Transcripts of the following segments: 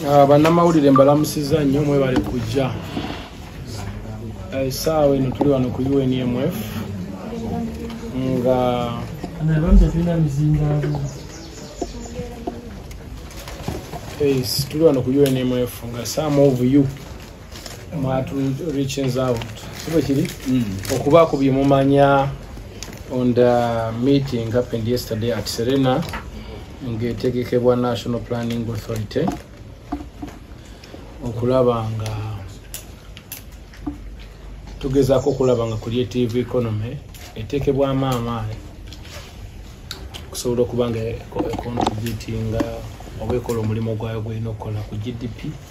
Ah, bannamawulire mbalamusiza nnyo mwebale kujja esaawa eh, eno tuli wano ku unmf nga tuli wano ku unmf nga some of you mwatu reaches out sibo kiri mm. okubaako bye mumanya on the meeting happened yesterday at serena ng'etegekebwa national planning authority okulaba nga tugezaako okulaba nga creative economy eteekebwamu amaanyi okusobola okuba nga econtributinga oba ekola omulimu gwayo gwolina okukola ku gdp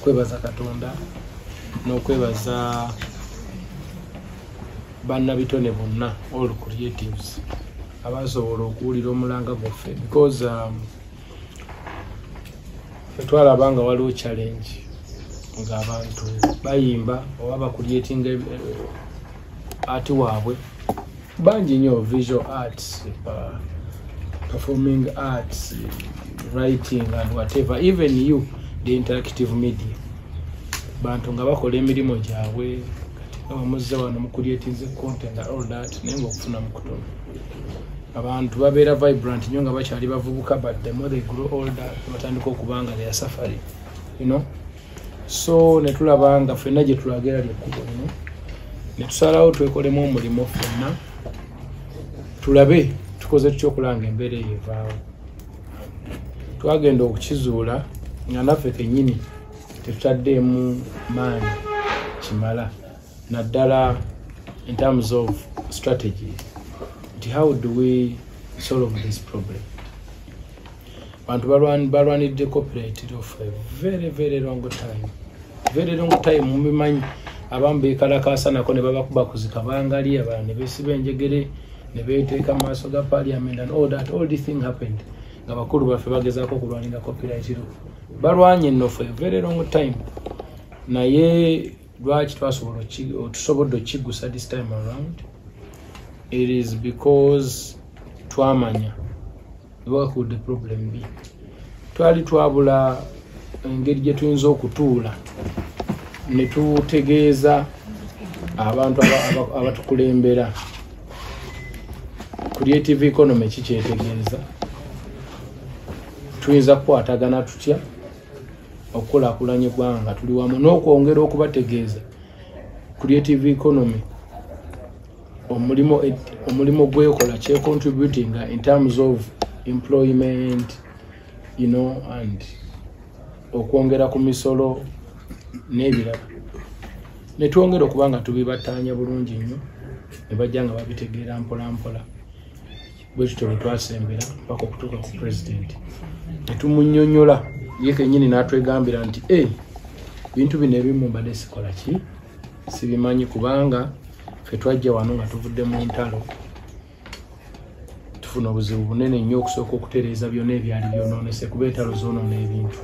kwebaza katonda n'okwebaza bannabitone bonna all creatives abasobola okuwulira omulanga gwaffe because um, fetwalaba nga waliwo challenge ng'abantu bayimba oba bakulyetinga eh, ati waabwe bangi nyo visual arts uh, performing arts writing and whatever even you the interactive media bantu nga bakola emirimu gyabwe omuzze wano mukulietinze content all that naye nga okufuna mukutono abantu babeera vibrant nyo nga bakyali bavubuka but the more they grow older batandika okubanga their safari you know so netulaba nga fenna gyetulaga era lyekkubo lino netusalawo twekolemu omulimu fenna tulabe tukoze tutya okulanga embeera eyo evaawo twagenda okukizuula nga naffe kenyini tetutaddeemu maanyi kimala naddala in terms of strategy nti how do we solve this problem bantu balwanidde copyright law for a very very long time very long time mubimanyi abamu bekalakaasa nako ne babakuba kuzika bangali abalala ne besiba enjegere ne beteeka mu maaso ga parliament and all that all this thing happened nga bakulu baffe bagezaako okulwanira copyright law balwanye no for a very long time naye lwaki twasobola tusobodde okukigusa this time around it is because twamanya bakuudde problem bi twali twabula engeri gye tuyinza okutuula ne tutegeeza abantu abatukulembera creative economy kikyetegeeza tuyinza kukwatagana tutya okukulakulanya eggwanga tuli wamu n'okwongera okubategeeza creative economy omulimu omulimu gwekola kye contributing in terms of employment you know and okwongera ku misolo n'ebirala ne twongera okuba nga tubibattaanya bulungi nnyo ne bajja nga babitegeera mpola mpola bwe tutyo bwe twasembera mpaka okutuuka ku pulezidenti ne tumunyonyola ye kennyini n'atwegambira nti e eh, bintu bino ebimu mbadde sikola ki sibimanyi kubanga fetwajja wano nga tuvudde mu ntalo tufuna obuzibu bunene nnyo okusooka okutereeza byonna ebyali byonoonese kuba entalo zoonoona ebintu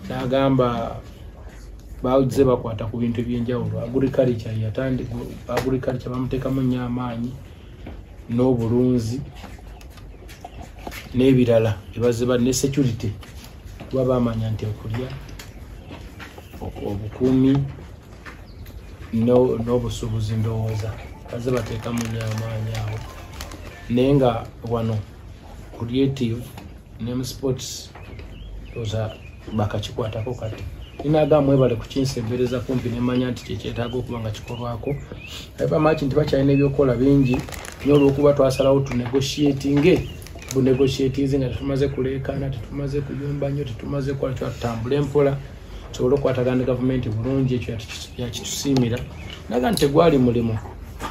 nagamba baze bakwata ku bintu ebyenjawulo agriculture yatandi agriculture bamuteekamu nnyo amaanyi n'obulunzi n'ebirala ebaziba ne security kuba bamanya nti okulya obukuumi n'obusuubuzi ndowooza baze bateekamu nyo amaanyi awo naye nga wano creative ne mu sports oza bakakikwatako kati ninaga mwebale kukinsembereza kumpi nemanya nti kyekyetaaga okuba nga kikolwako abamaki nti bakyalina ebyokukola bingi nyo olwokuba twasalawo tunegotiatinge bunegotiatinze nga tetumaze kuleekaana tetumaze kuyumba nyo tetumaze kukola kyatutambula empola tusobole okukwatagana ne gavumenti bulungi ekyo yakitusiimira naga nti tegwali mulimu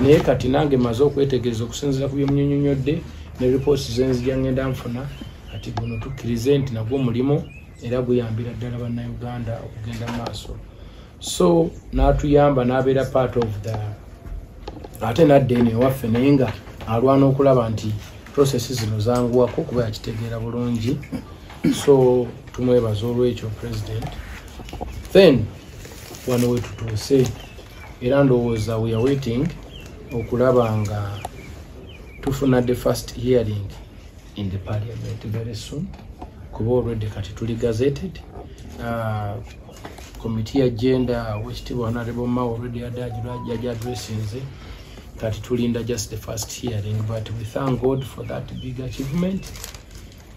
naye kati nange maze okwetegereza okusinzira ku byemunyonyonyodde ne ripoots zenzija ngenda nfuna kati guno tukkirize nti nagwo mulimu era guyambira ddala bannauganda okugenda mu maaso so n'atuyamba n'abeera part of the ate nadda eno ewaffe naye nga alwana okulaba nti prosesi zino zanguwako kuba yakitegeera bulungi so tumwebaza olwekyo president then wano wetutuuse era ndowooza we are waiting okulaba nga tufuna the first hearing in the parliament very soon kuba already kati tuli gazetted uh, committee ya gender wekitibwa honorable ma already yaja addressinze kati tulinda just the first hearing but we thank god for that big achievement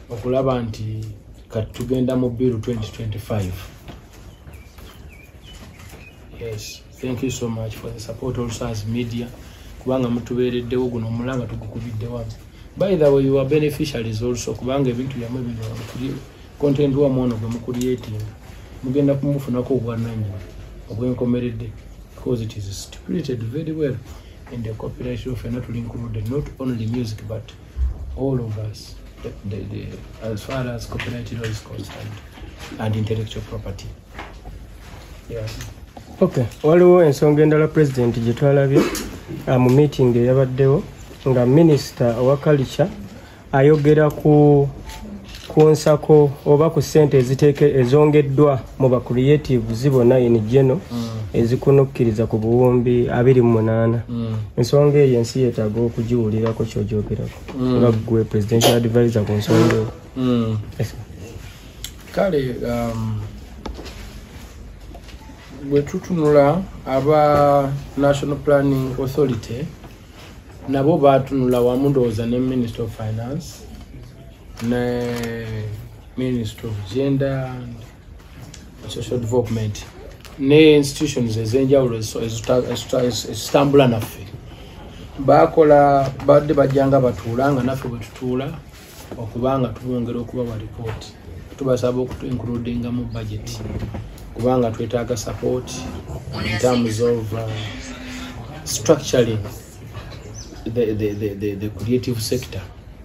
okulaba nti kati tugenda mu biru 2025 yes thank you so much for the support also as media kubanga mutubeereddewo guno omulanga tugukubiddewa by the way your beneficiaries also kubanga ebintu byamwe bino content wa mwono gwe mukulietinga mugenda kumufunako obwananyina obwenkomeredde because it is stipulated very well in the copyright law fena tulinkuludde not only music but all of us the, the, the, as far as copyright law is concerned and intellectual property yeah. okay waliwo ensonga endala president gye twalabye uh, mu meeting eyabaddewo nga minister owa culture ayogera ku kunsako oba ku sente eziteeke ezongeddwa mu ba creatives bona in geno mm. ezikunukkiriza ku buwumbi abiri mu munaana mm. ensonga eyo ensi yeetaaga okugiwulirako kyogyogerako mm. nga gwe presidential advisor ku nsonga eyo mm. kale um, bwe tutunula aba national planning authority nabo baatunula wamu ndowooza ne minister of finance ne Ministry of Gender and Social Development ne institutions ez'enjawulo ezitambula naffe bakola badde bajja nga batuula nga naffe bwe tutuula okuba nga tubongera okubawa lipooti tubasaba okutuinkuludinga mu budget kubanga twetaaga support in terms of uh, structuring the, the, the, the, the creative sector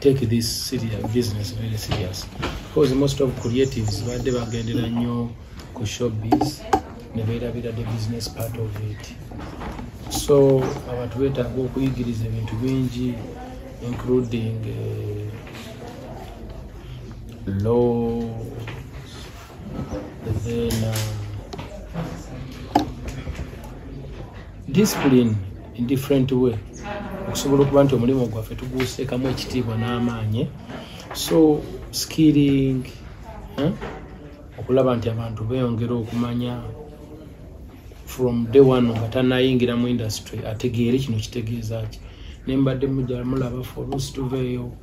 take this serious business very serious because most of creatives badde bagendera nnyo ku showbiz ne beerabira the business part of it so abantu beetaaga okuyigiriza ebintu bingi including uh, law discipline in different way okusobola okuba nti omulimu gwaffe tuguseekamu ekitiibwa n'amaanyi so skilling eh? okulaba nti abantu beyongera okumanya from day one nga tanayingira mu industry ategeere kino kitegeeza ki nembadde mujamulaba folusi tuveeyo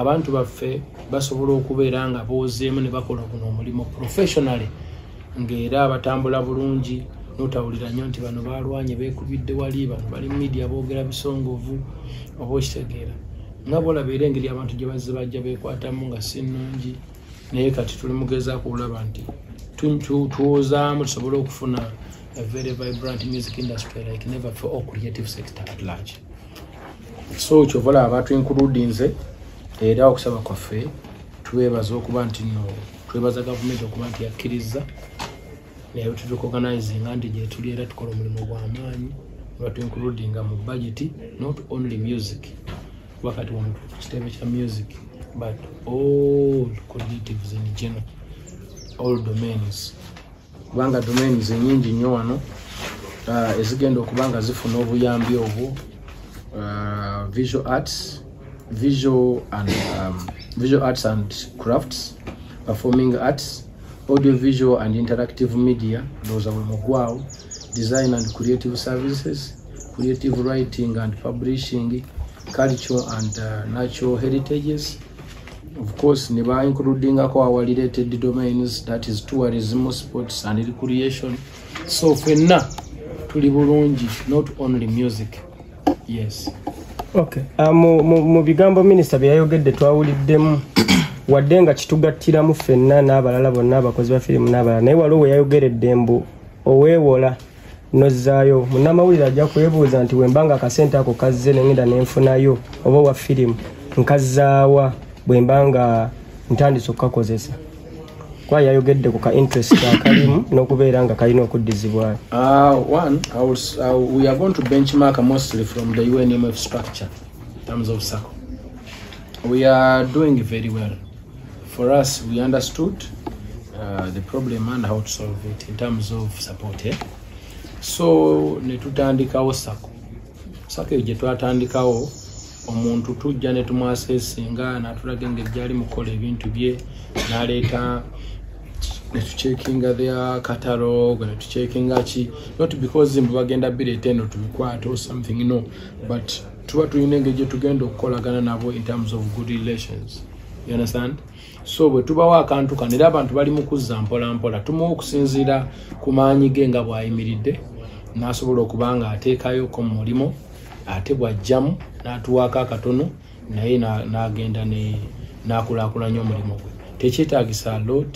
abantu baffe basobola okubeera nga boozeemu ne bakola guno omulimu professionally ng'era abatambula bulungi notawulira nnyo nti bano balwanye bekubidde wali bano bali media boogera bisongovu oba okitegeera nga bolabeera engeri abantu gye bazze bajja bekwatamu nga si nnungi naye kati tuli mugezaako olaba nti tuwozaamu tusobole okufuna a very vibrant music industry like never for all creative sector at large so kyova olaba batwinkuludinze era okusaba kwaffe twebaza okuba nti no twebaza gavumenti okuba nti yakkirizza naye tutukoganizinga nti gyetuli era tukola omulimu gwamaanyi batwinkuludinga mu bajeti not only music kuba kati wano kitebe kya music but all cognitives in general all domains kubanga domains nyingi nnyo wano uh, ezigenda okuba nga zifuna obuyambi obwo uh, visual arts visual and um, visual arts and crafts performing arts audio visual and interactive media ndowooza bwe mugwawo design and creative services creative writing and publishing culture and uh, natural heritages of course ne ba includingako our related domains that is tourism sports and recreation so fenna tuli bulungi not only music yes okay uh, mu, mu, mu bigambo minisita bye yayogedde twawuliddemu wadde nga kitugattiramu fenna n'abalala bonna abakozi ba firimu n'abalala naye waliwo we yayogeredde mbu oweewola nozzaayo munnamawulire ajja kwebuuza nti wemba nga akasente ako kazze nengenda nenfunayo oba owa firimu nkazzaawa bwemba nga ntandise okukakozesa kuba yayogedde ku ka interest akalimu n'okubeera nga kalina okuddizibwayo ah, uh, we are doing very well for us we understood uh, the problem and how to solve it in terms of support eh? so netutandikawo sako sako eyo gyetwatandikawo omuntu tujja netumwasesinga natulaga engeri gyali mukukola ebintu bye naleeta netucekinga their catalog netucekinga ki not because mbu bagenda bireeta eno tubikwate or something no but tuba tulina engeri gyetugenda okukolagana nabo in terms of good relations you understand so bwe tubawo akantu kano era abantu bali mu kuzza mpolampola tumuwa okusinziira ku maanyi ge nga bw'ayimiridde n'asobola okuba nga ateekayoko mu mulimu ate bw'ajjamu n'atuwaako akatono naye n'agenda n'akulaakulanya omulimu gwe tekyetaagisa lot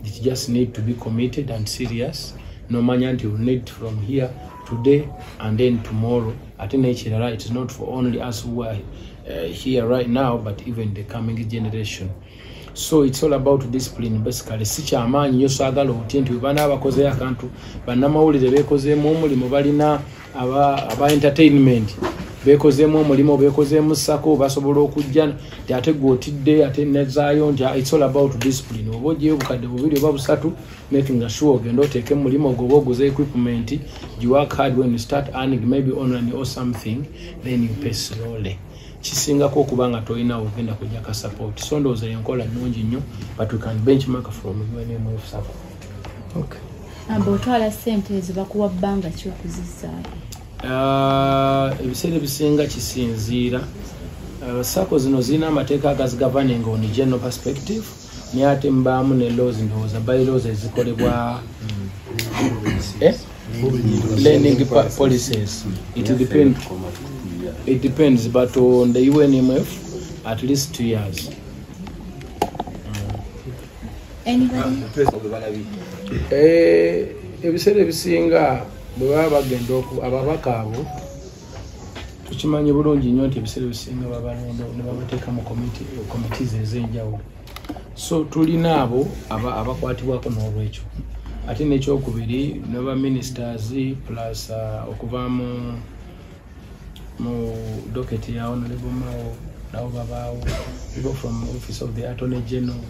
it just need to be committed and serious nomanya nti need from here today and then tomorrow ate nekirala it is not for only us who are uh, here right now but even the coming generation so it's all about discipline basically si kyamaanyi nyo saagala otye nti webana abakozeyo akantu bannamawulire bekozeemu omulimu balina aba, aba entertainment bekozeemu omulimu bekozeemu sako basobola okujja nti ate gwe otidde ate nezaayo nti ah, it's all about discipline oba ojeyo obukadde bubiri oba busatu making a sure ogenda oteeke mulimu goba oguze equipment you work hard when you start earning maybe online or something then you pay slowly kisingako okuba nga tolina ogenda kujja ka support so ndowooza yenkola nnungi nnyo but we can benchmark from unmf support okay. amba otwala sente ezo bakuwa bbanga ki okuzizaayo ah, ebiseera ebisinga kisinziira ah, sako zino zirina amateeka agazigavaninga on general perspective naye ate mbaamu ne lozi ndowooza bali lozi ezikolebwa eh? learning policies it depend it depends but on the unmf at least two years eh, ebiseera ebisinga bwe baba bagenda ababaka abo tukimanyi bulungi nnyo nti ebiseera ebisinga babalonda ne babateeka mu komitiizi ez'enjawulo so tulina abo abakwatibwako n'olwekyo ate n'ekyokubiri naba ministers plus uh, okuva mu mu doketi ya honorable mao nabo babaawo people from office of the attorney general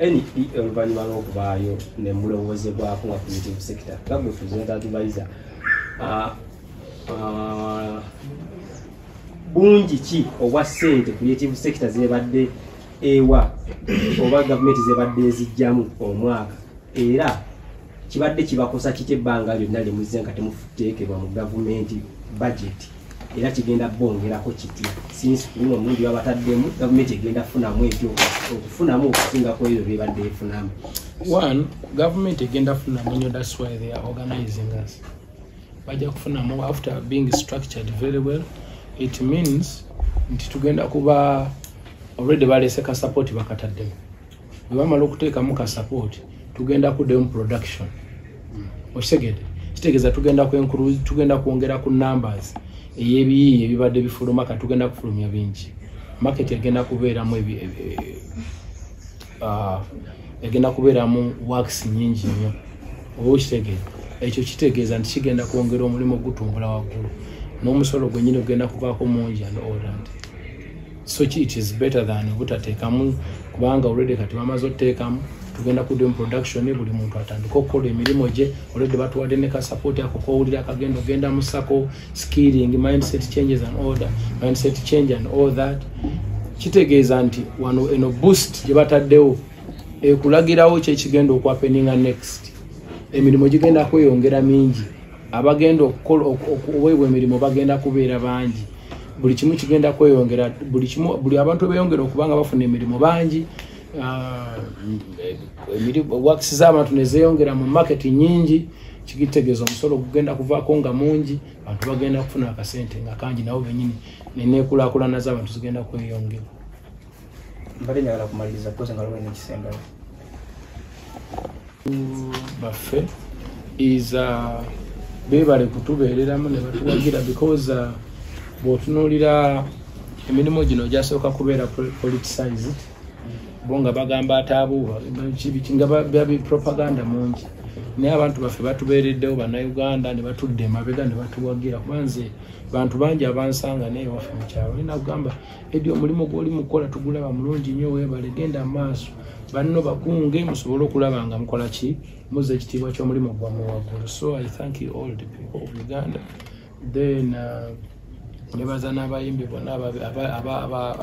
NPL oluvannyuma lw'okubaayo ne mulowoozebwako nga creative sector nga gwe present advisor ah, ah, bungi ki obwa ssente creative sector zebadde ewa oba gavumenti zebadde ezijjamu omwaka era kibadde kibakosa kitya ebbanga lyonna lye muzze nga temuteekebwa mu gavumenti bajeti era kigenda bongerako kitya sinsi kuno omulundi babataddemu gavumenti egenda kufunamu ekyo okufunamu okusinga ku ebyo byebadde efunamu one gavumenti egenda kufunamu nyo thats why they are organizing us bajja kufunamu after being structured very well it means nti tugenda kuba already balese ka support bakataddemu bwe bamala okuteekamu ka support tugenda kuddayo mu production hmm. okitegede kitegeeza tugenda kwenkulu tugenda kwongera ku numbers ey'ebiyiiye ebibadde bifuluma ka tugenda kufulumya bingi market egenda kubeeramu e, e, ah, egenda kubeeramu works nyingi nnyo oba okitegeeza ekyo kitegeeza nti kigenda kwongera omulimu ogutumbula waggulu n'omusolo gwenyini ogenda kubaako mungi and orland so ki it is better than obutateekamu kubanga already kati bamaze oteekamu tugenda kudomu production buli muntu atandika okukola emirimu gye already batuwadde ne ka support ako kowulira akagenda ogenda musako skilling mindset changes and order mindset change and all that kitegeeza nti wano eno boost gye bataddewo ekulagirawo kyekigenda okwapeninga next emirimu gigenda kweyongera mingi abagenda okukola okuweebwa emirimu bagenda kubeera bangi buli kimu kigenda kweyongera buli kimu buli abantu beyongera okuba nga bafuna emirimu bangi ah, wakisi z'abantu nezeyongera mu maketi nyingi kigitegeeza omusolo gugenda kuvaako nga mungi bantu bagenda kufuna akasente nga kangi nabo benyini nenekulakulana z'abantu zigenda kweyongera mbadde njagala kumaliriza kukoze nga lwalina ekisembayo baffe is uh, beebale kutubeereramu ne batuwagira because uh, bw'otunuulira emirimu gino gyasooka kubeera politicized bo nga bagamba ataabuuba nga babi propaganda mungi naye abantu baffe batubeereddewo bannayuganda ne batudde emabega ne batuwagira kuba nze bantu bangi abansanga naye waffe mukyalo olina kugamba edi omulimu gwoli mukola tugulaba mulungi nnyo webale genda maaso banno bakunge musobole okulaba nga mukola ki muza ekitiibwa ky'omulimu gwamu waggulu so i thank you all the people of uganda then uh, nebaza n'abayimbi bonna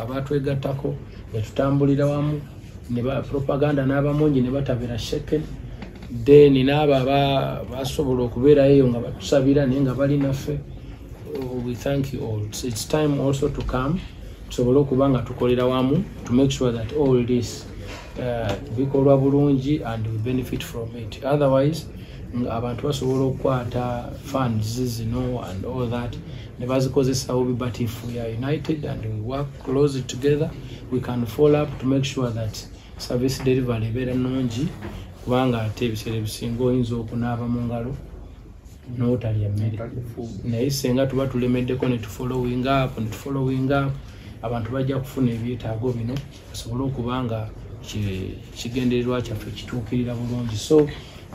abatwegattako netutambulira wamu nepropaganda n'abamungi ne batabira sheken then n'abo abasobola okubeerayo eyo nga batusabira naye nga bali naffe oh, we thank you all so it's time also to come tusobole okuba nga tukolera wamu to make sure that all this uh, bikolwa bulungi and we benefit from it otherwise abantu basobola okukwata funds zino and all that ne bazikozesa bubi but if we are united and we work close together we can follow up to make sure that service delivery ebeera nungi kubanga ate ebiseera ebisinga oyinza okunaaba mu ngalo notalya emmere naye senga tuba tulemeddeko netufollowing up netufollowing up abantu bajja kufuna ebyetaago bino basobole okuba nga kigendererwa kyaffe kituukirira bulungi so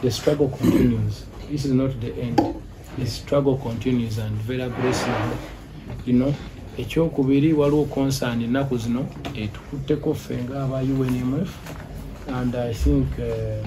the struggle continues this is not the end the struggle continues and vera grace you know ekyokubiri waliwo concern ennaku zino etukutteko ffe nga aba unmf and i think uh,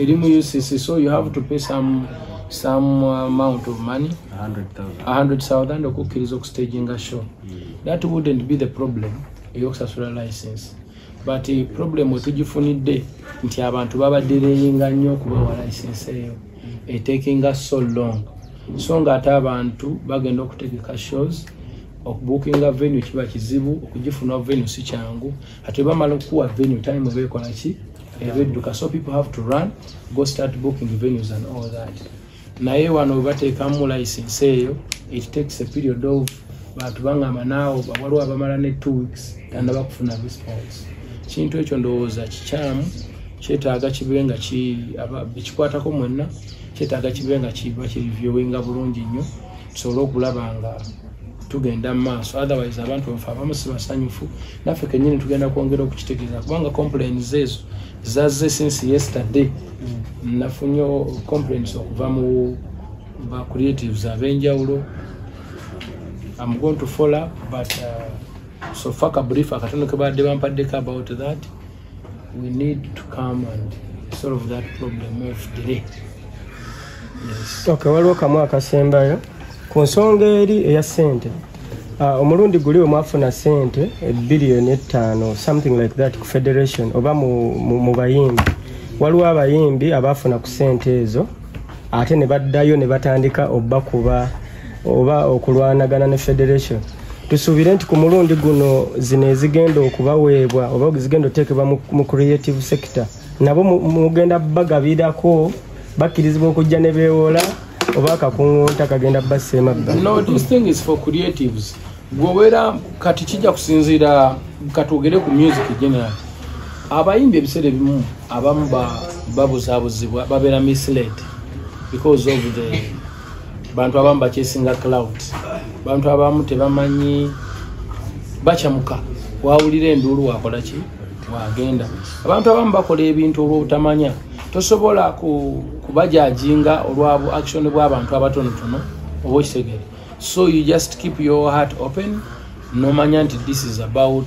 eri mu ucc so you have to pay some some amount of money 100000 okukkiriza okustaginga show mm. that wouldn't be the problem eyokusasula license but eh, problem wetugifunidde nti abantu babadireyinga nnyo okubawa license eyo etakinga eh, so long so nga ate abantu bagenda okutegeka shows okubukinga venue kiba kizibu okugifuna venue si kyangu ate bamala okukuwa venue time eba ekola ki eba edduka so people have to run go start booking venues and all that naye wano webateekamu license eyo it takes a period of bantu bangamba naawo waliwo abamala ne two weeks tanaba kufuna response kintu ekyo ndowooza kikyamu kyetaaga kibe nga ekikwatako mwenna kyetaaga kibe nga kiba kirivyowinga bulungi nnyo tusobole okulaba nga tugenda mu maaso otherwise abantu bafe abamu sibasanyufu naffe kenyini tugenda kwongera okukitegeeza kubanga complains ezo zazze since yesterday mm. nafunye complains okuva mu ba creatives abenjawulo am going to follow up but uh, sofa kabrief akatono kebaadde bampaddeko about that we need to come and solve that problem of delay yes. okay waliwo kamu akasembayo ku nsonga eri eya sente uh, omulundi guli omwafuna sente ebiliyoni ettaano something like that ku federation oba mu, mu, mu bayimbi waliwo abayimbi abaafuna ku sente ezo ate ne baddayo ne batandika obakuba oba okulwanagana ne federation tusuubire nti ku mulundi guno zino ezigenda okubaweebwa oba zigenda oteekebwa mu creative sector nabo mugenda bagabirako bakkirizibwa okujja ne beewola oba akakuŋunta kagenda bassa emabbali gwobeera kati kijja kusinziira katwogere ku music general abayimba ebiseera ebimu abamu babuzabuzibwa babeera misled because of the bantu abamu bakyesinga cloud bantu abamu tebamanyi bakyamuka wawulira enduulu wakolaki wagenda abantu abamu bakola ebintu olwobutamanya tosobola kubajajinga olwabu action bwabantu abatonotono oba okitegere so you just keep your heart open nomanya nti this is about